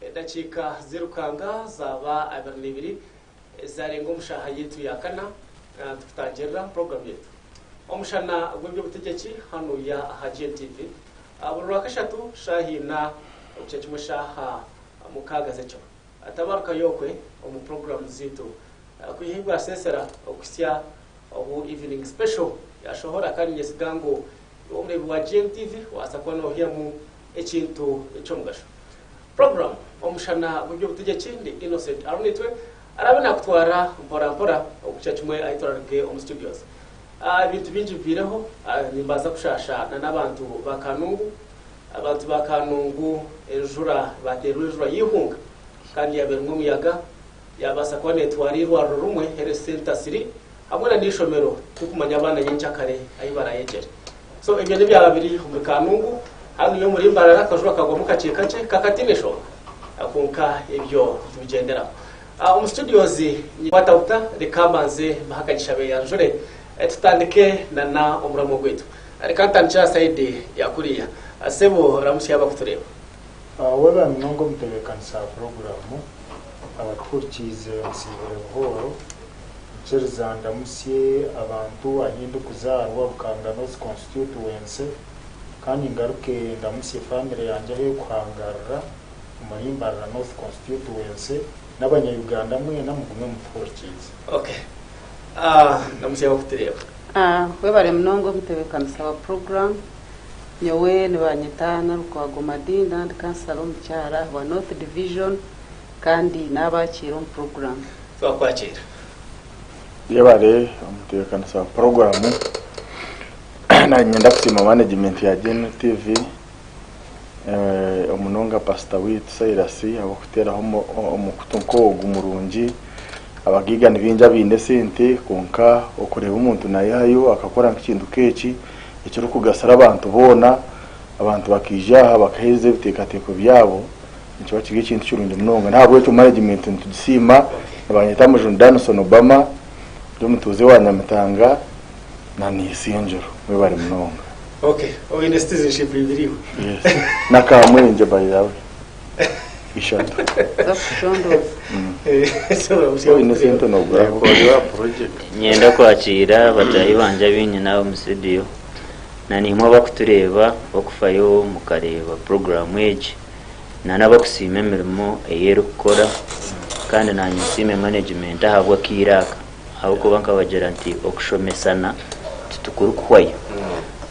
Edakiika zirukanga zaaba abiri n'ibiri zarenga omu shaaha yaitu ya kana tukutangirira program yaitu Omushana gw'eby'obutegyeki hanu ya aha GNTV buri Rwakashatu shaaha ina okukya kimwe shaaha mukaaga z'ekiro. Tabarukayo okwe omu program zaitu kwiha ahi bwasesera okuhitsya obu Evening Special yashohora kandi nyesiga ngu iwe omureebi wa GNTV waasa kuba nohyamu Ekintu eky'omugasho. Puroguramu Omushana gw'eby'obutegyeki ndi Innocent Arunitwe araabe naakutwara mpora mpora okukira kimwe ahi turaruge omu studios. Ebintu bingi bibaireho, nimbaasa kushaasha n'abantu ba Kanungu. Abantu ba Kanungu enjura baateerwa enjura y'eihunga kandi yaaba erimu omuyaga Yaabaasa kuba neetwara eirwariro rumwe health centre ziri hamwe na n'eishomero turikumanya abaana nyencakare ahi baraayegyere. So ebyo n'ebyaba biri omuri Kanungu hanuya omuri Mbarara akajura kagwamu kakye kakye kakatiine nshonga kwonka ebyo nitubigyenderaho. Omu studios ninkwata buta reka mbanze mbahe akanyisha beeyanjure tutandike na n'omuramwa gwaitu. Reka ntandikire aha side ya kuriya. Sebo ramutsya abarikutureeba. Waba munonga omutebeekanisa wa puroguraamu, abatuhurikiize nsiibire buhooro. Nkiriza ndamutsye abantu ahi ndikuzaarwa, Bukanga North Constituency, kandi ngaruke ndamutsye faamire yangye ahu erikuhangarira omuri Mbarara North Constituency n'abanyayuganda mwena mugume mutuhurikiize. Okay. Ndamutsye abarikutureeba. Webare munonga omutebeekanisa wa puroguraamu. Nyowe nibanyeta Nalukwago Madina ndi kansala omukyara ahabwa North Division kandi nabakiira omu puroguramu. Twakwakiira. Yebare omutebekanisa wa puroguramu. Nanye ninyenda kusiima manegimenti ya Gen TV omunonga pasita waitu Silas ahabw'okuteraho omukutu nk'ogu murungi. Abagaiga nibaingi abaine esente kwonka okureeba omuntu nayehayo akakora nk'ekintu nk'eki. ekirikugasira abantu boona, abantu bakaija aha bakaheereza ebiteekateeko byabo, nikiba kiri ekintu kirungi munonga. N'ahabw'ekyo managimenti nitugisiima. Nibanyeta Mujuni Danison Obama, ndi omutuuze wa Nyamitanga na Naisingiro. Mwebare munonga. Okay, oine citizenship ibiri iwe? Yes. Na Kamwingye by the way. ishatu z'okushondooza. Waaba oine sente nooguraho. Niinyenda kwakiira bataahi bangye abainyina omu situdiyo na naimwe abarikutureeba okufayo mukareeba puroguraamu egi na n'abu okusiima emirimo ei erikukora kandi naanye nsiime manegimenti ahabw'akaire aka. Ahabw'okuba nkabagira nti okushomesana titukurikuhwayo.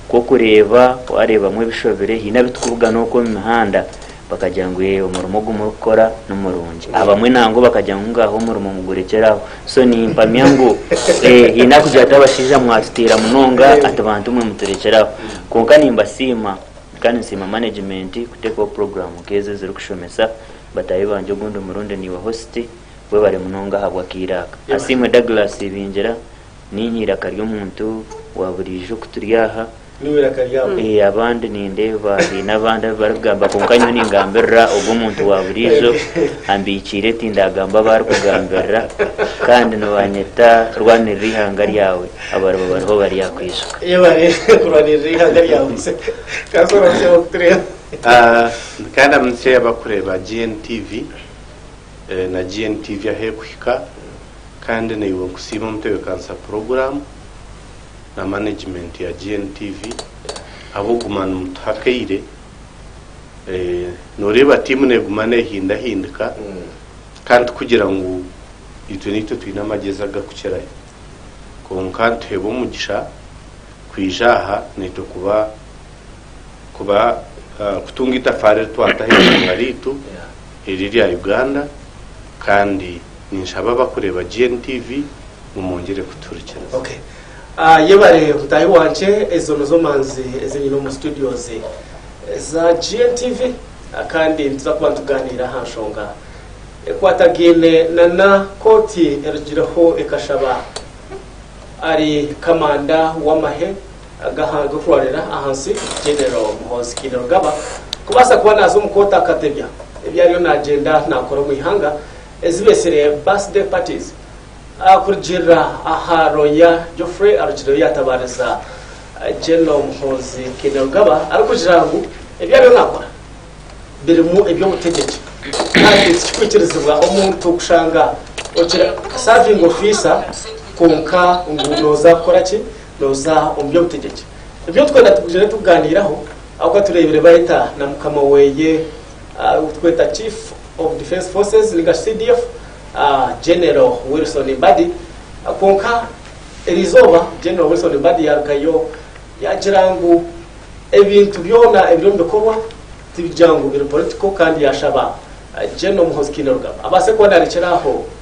Nk'okureeba waareebamu ebishobire haine abitukubugana okwo omu mihanda bakagira ngu ee omurimo ogu murikukora ni murungi. Abamwe nangwa bakagira ngu ngaaha omurimo mugurekyere aho. So nimpamya ngu ee haine arikugira ati abashaija mwatutiira munonga ati bantu mwe muturekyere aho. Kwonka nimbasiima kandi nsiima manegimenti kuteekaho puroguraamu nk'ezi ezirikushomesa. Bataahi bangye ogundi murundi niiwe hositi. Webare munonga ahabw'akaire aka. Asiimwe Douglas Ibingira, Niinye eiraka ry'omuntu wa buriijo ku turi aha. Niiwe iraka ryabo? Ee, abandi nindeeba haine abandi abu barikugamba kwonka nyowe ningambirira ogu omuntu wa buriijo ambiikiire tindaagamba abu arikugambirira kandi nibaanyeta Rwanirira Eihanga Ryawe abariba bariho bari aha kwijuka. Yebare kurwanirira eihanga ryawe Kansi oramukye abarikutureeba. Nkaramukye abarikureeba GNTV. Na GNTV ahu erikuhika kandi naiwe nkusiime mutebekanisa puroguramu na manegimenti ya GNTV ahabw'okuguma nimutuha akaire. Noreeba tiimu neguma nehindahindika kandi tikugira ngu itwe naitwe twine amagezi agarikukirayo kwonka nituheebwa omugisha kwija aha naitwe kuba kuba kutunga itafaari eri twata aha ihanga ryaitu eri erya Uganda kandi ninshaba abakureeba GNTV ngu mwongyere kutuhurikiriza. Ok. Yebare mutaahi wangye, ezo nizo manzi ezi nyine omu studios za GNTV kandi nituza kuba nitugaaniira aha nshonga ekwatagaine na na kooti erugireho ekashaba ari kamanda w'amahe, Agahara g'okuhwareera ahansi, General Muhoozi Kainerugaba kubaasa kuba naaza omu kooti akatebya ebi ariyo naagyenda naakora omu ihanga ezi beetsire Birthday Parties kurugiirira aha looya Geoffrey arugireyo yaatabaariza General Muhoozi Kainerugaba arikugira ngu ebi ariyo naakora birimu eby'obutegyeki kandi tikikwikirizibwa omuntu kushanga okisavinga ofiisa kwonka ngu nooza kukora ki? Nooza omu by'obutegyeki. Nibyo twena tugizire tukugaaniiraho ahabw'okuba tureebire Baita na mukama weye ou turikweta Chief of Defence Forces ninga shi CDF, General Wilson Mbadi. Kwonka eri izooba General Wilson Mbadi yaarugayo yaagira ngu ebintu byona ebiri omu bikorwa tibigira ngu biri political kandi yaashaba General Muhoozi Kainerugaba abaase kuba naarekyera aho.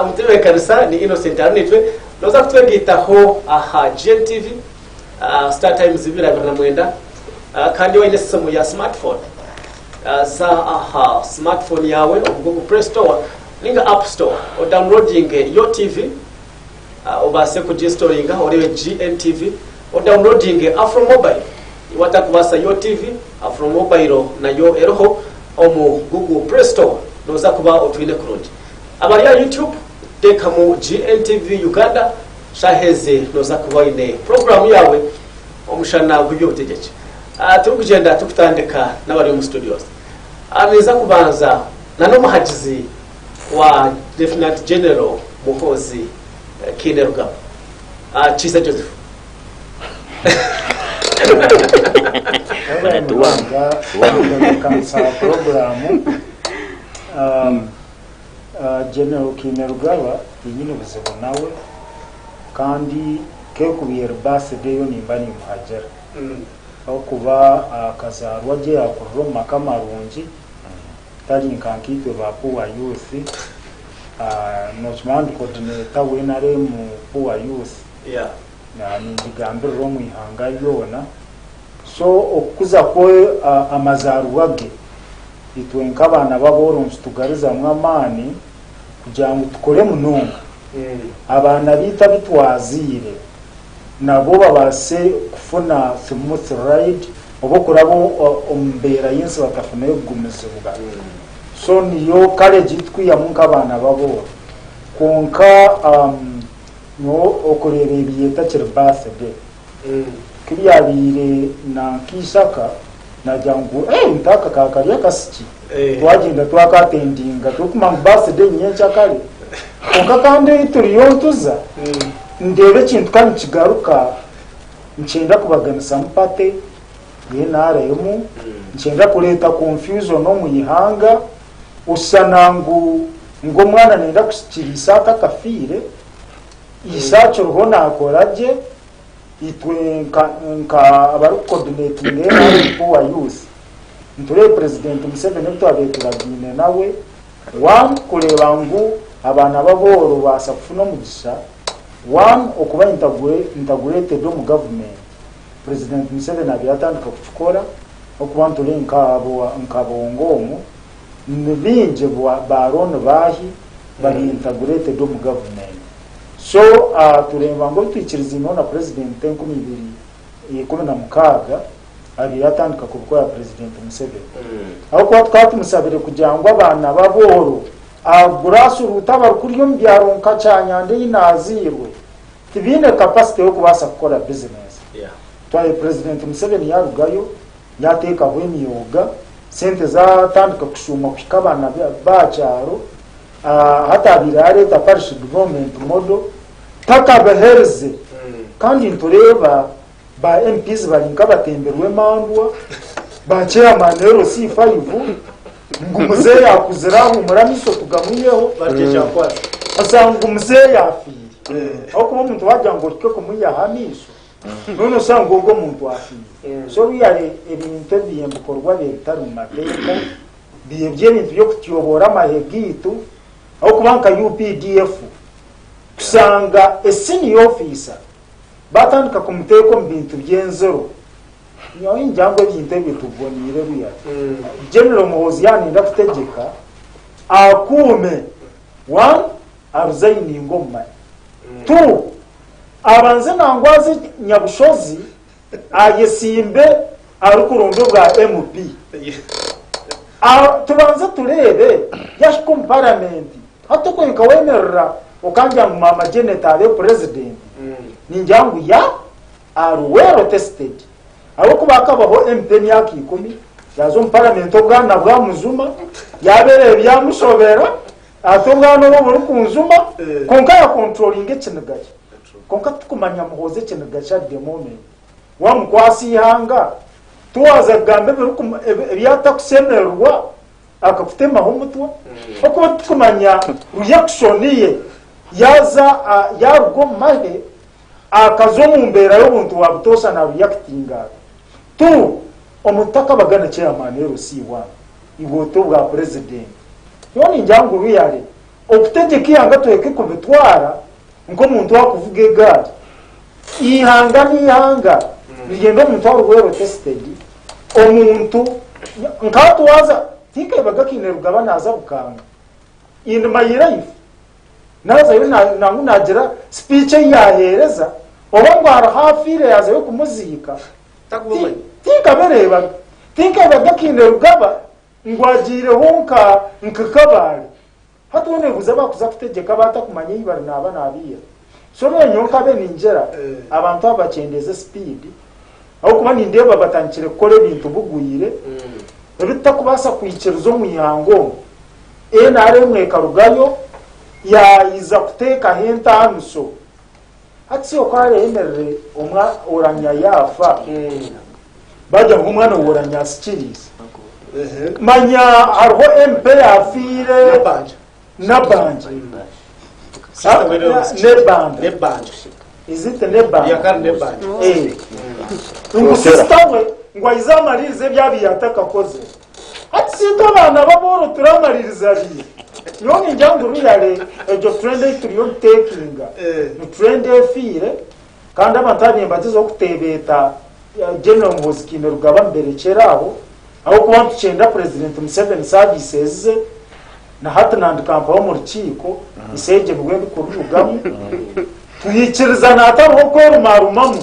Omu tebeekanisa ni Innocent Arunitwe nooza kutwegaitaho aha GNTV, Star Times ibiri abiri na mwenda. Kandi waine esimu ya smart phone, za aha smart phone yaawe omu Google Play Store ninga App Store odownloadinge Yo TV. obaase kuginsitoringa oreebe GNTV, odawunilodinge Afro Mobile. Watakubaasa YoTv, Afro Mobile nayo eriho omu Google Play Store, nooza kuba otwine kurungi. Abari aha YouTube, teekamu GNTV Uganda, shaaha ezi nooza kuba oine puroguraamu yaawe omushana gw'eby'obutegyeki. Turikugyenda turikutandika n'abari omu studios. Ninza kubanza na n'omuhagizi. wa Lieutenant General Muhoozi Kainerugaba, Kiiza Joseph. Yabaire munonga w'okutebeekanisa puroguraamu. General Kainerugaba tinyine buzibu nawe kandi k'ekuba eri birthday yo nimba nimuhagira ahabw'okuba akazaarwa gye yaakurira omu maka marungi. tari nka nkaitwe ba poor youth nokimanya ndi coordinator wa nrm poor youth ningigambirira omu ihanga ryoona so okukuza kwe amazaaribwa ge itwe nkabaana babooro nikitugarizamu amaani kugira ngu tukore munonga abaana baitu abu twaziire nabwo babaase kufuna smooth ride oba okuraba omu mbeera y'ensi batafuneyo kugumizibwa. So niyo courage ei tukwihamu nk'abaana b'abooro. Kwonka nyowe okureeba ebi etakiri birthday, ku ebyabaire na nk'eishaka, Nagira ngu eeh nka aka ka kari akasiki. Twagenda twaka attendinga turikumanya ngu birthday ni nyenkyakare kare. Kwonka kandi ei turiyo nituza ndeeba ekintu ka nikigaruka nikyenda kubaganisamu party ye nrm, nikyenda kureeta confusion omu ihanga. Oshushana ngu ngu omwana nenda kusikira ise atakafiire, ise akiriho nakora gye Itwe nka nka abari kukodunetinga NRM Poor Youth nitureba Purezidenti Museveni obu twabaire turagiine nawe, one kureeba ngu abaana b'abooro baasa kufuna omugisha, one okuba intagure integrated omu gavumenti. Purezidenti Museveni abaire yatandika kukikora okuba nitureba nka abo nka Bongo omu ni baingi ba Aaron Bahi bari integrated omu gavumenti. So aha tureeba ngu ebitwikiriziinwe na Purezidenti Enkumi ibiri ikumi na mukaaga abaire atandika kubikorera Purezidenti Museveni. Ahabw'okuba tukaba tumusabire kugira ngu abaana ba Buhoro aha Grass Root abari kuriya omu byaro nka Kyanyanda ei naazairwe tibaine kapasite y'okubaasa kukora bizinesi. Twahi Purezidenti Museveni yaarugayo yaateekaho emyoga, sente zaatandika kushuumwa kuhika abaana ba kyaro. Ahataabaire haareeta Parish Development Model takabaherize kandi nitureeba ba MPs bari nk'abatembi rw'emandwa, ba Chairman LC Faivu ngu Muzeeyi akuzire ahuumure amaiso tugamwiheho, busa ngu Muzeeyi afiire. Ahabw'okuba omuntu waagira ngu ohike kumwihaho amaiso, mbwenu oshusha ngu ogwo muntu afiire. So really ebintu ebi ebikorwa bye bitari mu mateeka. Biibye ebintu by'okutyoboora amahe gaitu ahabw'okuba nka updf kushanga a senior officer batandika kumuteeka omu bintu by'enziro nyowe ningira ngu ebintu ebyo tubiboniire ruya. General Muhoozi yaaba nenda kutegyeka akuume one aruzayininge omu mahe two abanze nangwaze Nyabushozi Ayesimbe arikuronda obwa MP. Tubanze tureebe yahika omu paramenti. Hati okwe nkawemerera okangira ngu maama Janet abe purezidenti, ningira ngu ya are well tested. Ahabw'okuba akabaho MP emyaka ikumi, yaaza omu paramenti obwana bwamujuma, yaabereho ebyamushobera, ati obwana obu burikunjuma, kwonka yakonturolinga ekiniga kye. Kwonka titukumanya Muhoozi ekiniga ki at the moment. Wamukwasa eihanga, tiwaza kugamba ebi atakusemererwa akakutemaho omutwe. Ahakuba titukumanya reaction ye yaza yaruga omu mahe akaza omu mbeera y'obuntu wa butoosha na reactinga ata. Tu, omuntu takabaga na chairman LC bwana, iwe ote obwa president. Nyowe ningira ngu really okutegyeka eihanga tweke kubitwara. Nk'omuntu arikuvuga egaari, eihanga n'eihanga nirigenda omuntu ari well tested, omuntu nka hati waaza tikabaga kaine rugaba naaza Bukanga in my life naazayo nangwa naagira speech ei yaaheereza oba ngu hariho afiire yaazayo kumuziika tinkabireebaga. Tinkabaga kaine rugaba ngu agyireho nka Kabaale. Hati oriyo nebuuza abakuza kutegyeka baata kumanya ei bari naaba nabiiha? So mbwenu nyowe nkabe ningyera abantu abo bakyendeeze speed ahabw'okuba nindeeba batandikire kukora ebintu bugwire ebi tutakubaasa kwikiriza omu ihanga omu. NRM ekarugayo yaayiza kuteekaho entaaniso Hati oku areemerire omwa oranya yaafa, baagira ngu omwana w'oranya asikiriize. Manya hariho empa eyaafiire n'abanja, n'ebanja, is it n'ebanja? Ngu sisita we ngu aize amariirize ebi abu yaatakakozire. Hati singa abaana b'aboro turi amaririza abiri, nyowe ningira ngu ruyare egyo trend ei turiyo nitekinga ni trend efiire kandi abantu aba nimbagyezaho kutebeeta General Muhoozi Kainerugaba mberekyere aho ahabw'okuba nitukyenda President Museveni services ze na hati nandika mpaho omu rukiiko Iseegye nibwo ndikururugamu twikiriza naatariho kwerumarumamu.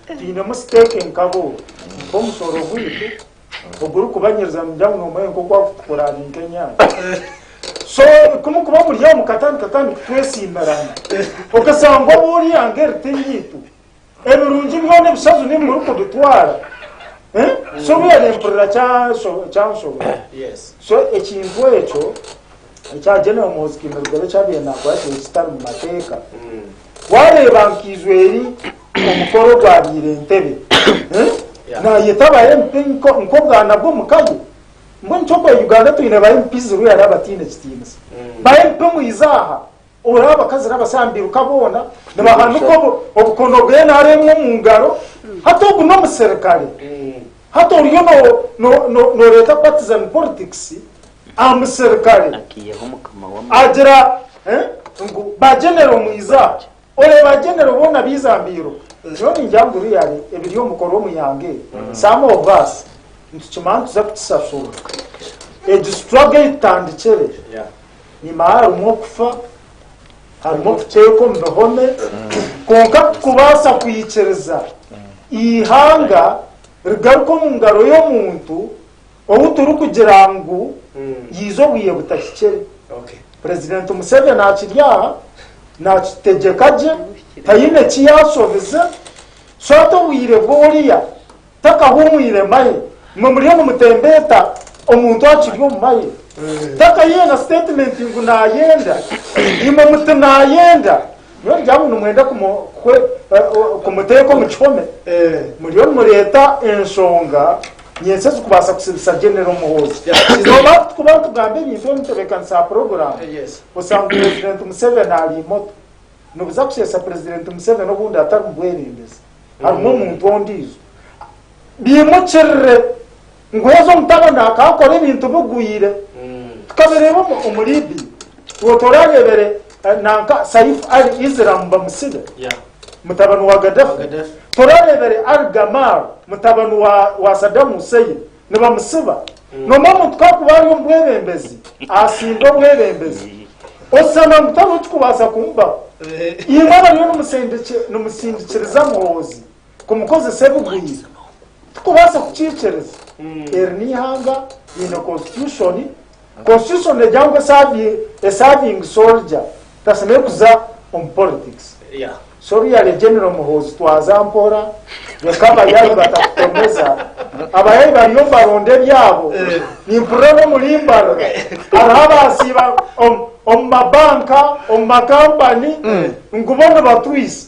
Twinemu siteeke nkabo, nk'omushooro gwaitu ogurikubanyiriza nimugira ngu noomanya nk'oku arikutukora ari nk'enyanja. So ku mukuba muri aho mukatandika kandi kutwetsimbirana, okasanga oba ori hanga eri tiryaitu, ebirungi byona ebishaju niiwe murikubitwara. Eh? So obu yari mpurira kya- kyanshobera. So ekintu ekyo ekya General Muhoozi Kainerugaba eki abaire naakora kyabaire kitari mu mateeka, waareeba nka eizweeri omukoro ogwabaire Entebbe naayeta aba MP nk'obwana bw'omuka ye, mbwenu nikyo kweeya Uganda twine ba MP ziriho yaareeba bataine kitiinisa. Ba MP mwije aha Ora abakazi n'abasaani bairuka boona nibahanika obukono bw'NRM omu ngaro, hati ogu n'omuserikare? Hati oriyo nooreeta partisan politics aha muserikare? Agira ngu ba Genero mwija, ore ba Genero boona baija mbairuka. Nyowe ningira ngu really ebiri omu mukorwa omu ihanga eri, some of us nitukimanya nituza kukisashurwa. Egi struggle ei tutandikire. Nyima harimu okufa, harimu okuteekwa omu bihome, kwonka tikubaasa kwikiriza eihanga rigaruka omu ngaro y'omuntu ou turikugira ngu yaiza obwire butahikire. Purezidenti Museveni akiri aha naakitegyeka gye, taine eki yaashobize, so ati obwire bw'oriya. Takahumwire maye mwe muriyo nimutembeeta omuntu akiri omu maye takayihe na statement ngu nayenda imwe muti nayenda nyowe ngira ngu nimwenda kumuteeka omu kihome muriyo nimureeta enshonga nyensya ezikubaasa kusibisa General Muhoozi noba tukuba nitugamba ebintu ebimutebekaniise aha program osanga president Museveni ari moto. Nibuza kushesha Purezidenti Museveni obundi atari mu bwebembezi harimu omuntu ondiijo. Biimukirire ngu haza omutabani akaakora ebintu bigwire. Tukabireeba omu Libya. Obwo toraareebere eh, nanka Saif Ali Islam bamusibe. Yeah. Mutabani wa Gaddafi. Wa Gaddafi. Toraareebere Ali Gamal mutabani wa, wa Saddam Hussein. nibamutsiba. Nomba omuntu ku arikuba ari omu bwebembezi, atsindwa obwebembezi, oshana ngu tariho ekirikubaasa kumubaho. Imwe abariyo nimutsindikiriza Muhoozi kumukozesa ebigwire, tikubaasa kukiikiriza. Eri n'eihanga riine Konsitushoni. Constitution negira ngu a serving soldier tasemeriire kuza omu politics so really General Muhoozi twaza mpora reka abayayi batakutomeza abayayi bariyo nibaronda ebyabo nimpurira n'omuri mbarara hariho abasiiba omu mabanka omu makampani ngu bo nibatwisa